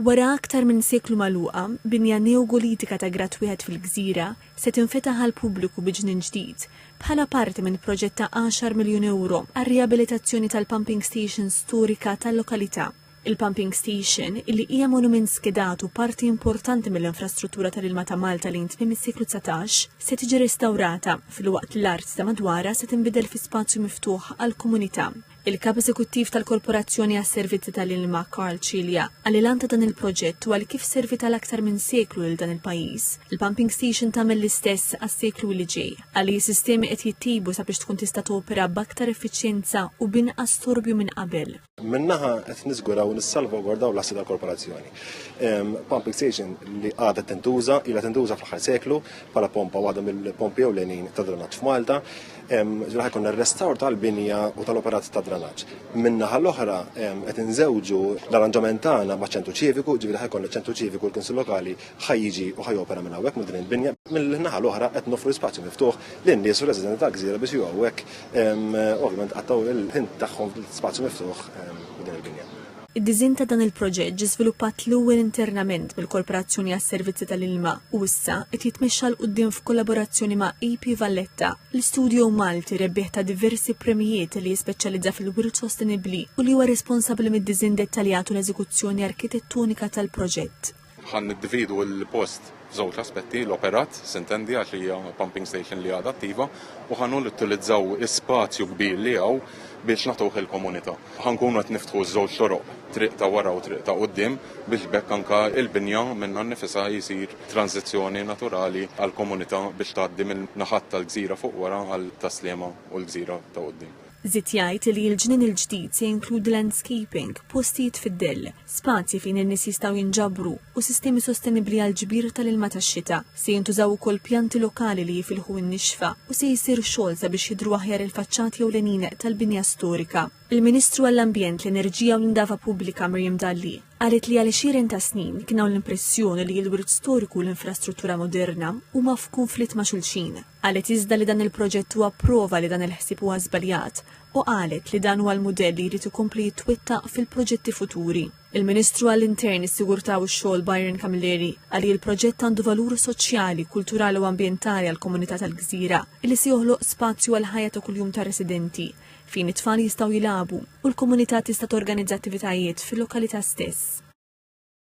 Wara aktar minn seklu magħluqa, binja neogolitika ta' grad wieħed fil-gżira se tinfetaħ għall-pubbliku bi ġnien ġdid, bħala parti minn proġett ta' għaxar miljun ewro għar-riabilitazzjoni tal-pumping station storika tal-lokalità. Il-pumping station, illi hija monument skedat u parti importanti mill-infrastruttura tal-ilma ta' Malta lejn tmiem is-seklu dsatax, se tiġi restawrata, filwaqt li l-art ta' madwarha se tinbidel fi spazju miftuħ għall-komunità. Il-Kap Eżekuttiv tal-Korporazzjoni għas-Servizzi tal-Ilma, Karl Cilia, qal li l-għan ta' dan il-proġett huwa li kif serviet għal aktar minn seklu lil dan il-pajjiż, il-pumping station tagħmel l-istess għas-seklu li ġej. Qal li s-sistemi qed jittejbu sabiex tkun tista' topera b'aktar effiċjenza u b'inqas storbju minn qabel. Minn naħa qed niżguraw nissalvagwardaw l-assi tal-korporazzjoni. Pumping station li għadha tintuża, ilha tintuża fl-aħħar seklu bħala pompa waħda mill-pompi ewlenin tad-drenat f'Malta. Ġra ħajkun ir-restawr tal-binja u tal-operat ta' dranaġġ. Min-naħa l-oħra qed inżewġu l-arranġament tagħna ma' ċentru ċiviku, ġifieri ħajkun ċentru ċiviku l-Kunsill Lokali ħajjiġi u ħajopera minn hawnhekk minn din il-binja. Mill-naħa l-oħra qed noffru spazju miftuħ lin-nies u residenti tal-gżira biex jiġu hawnhekk ovvjament qattgħu l-ħin tagħhom spazju miftuħ din il-binja. Id-disinn ta' dan il-proġett ġie żviluppat l-ewwel internament mill-Korporazzjoni għas-Servizzi tal-Ilma u issa qed jitmexxa 'l quddiem f'kollaborazzjoni ma' AP Valletta, l-istudjo Malti rebbieħ ta' diversi premjijiet li jispeċjalizza fil-wirt sostenibbli u li huwa responsabbli mid-disinn dettaljat u l-eżekuzzjoni arkitettonika tal-proġett. Ħa niddividu l-post f'żewġ aspetti, l-operat, sintendi għax hija pumping station li għadha attiva, u ħa nuttilizzaw spazju kbir li hawn biex nagħtuh il-komunità. Ħa nkunu qed niftħu ż-żewġ toroq, triq ta' wara u triq ta' quddiem, biex b'hekk anke l-binja minnha nnifisha jsir tranżizzjoni naturali għall-komunità biex tgħaddi minn naħat tal-gżira fuq wara għal Tas-Sliema u l-gżira ta' quddiem. Żied jgħid li l-ġnien il-ġdid se jinkludi landscaping, postijiet fid-dell, spazji fejn in-nies jistgħu jinġabru u sistemi sostenibbli għall-ġbir tal-ilma tax-xita. Se jintużaw ukoll pjanti lokali li jifilħu n-nixfa u se jsir xogħol sabiex jidhru aħjar il-faċċati ewlenin tal-binja storika. Il-Ministru għall-Ambjent, l-Enerġija u l-Indafa Pubblika Miriam Dalli qalet li għal xiren ta' snin kien hawn l-impressjoni li l-wirt storiku u l-infrastruttura moderna huma f'kunflitt ma' xulxin. Qalet iżda li dan il-proġett huwa prova li dan il-ħsieb huwa żbaljat u qalet li dan huwa l-mudell li jrid ikompli jitwettaq fil-proġetti futuri. Il-Ministru għall-Intern, is-Sigurtà u x-Xogħol Byron Camilleri qal li l-proġett għandu valur soċjali, kulturali u ambjentali għall-komunità tal-gżira li se joħloq spazju għall-ħajja ta' kuljum tar-residenti fejn it-tfal jistgħu jilagħbu u l-komunità tista' torganizza attivitajiet fil-lokalità stess.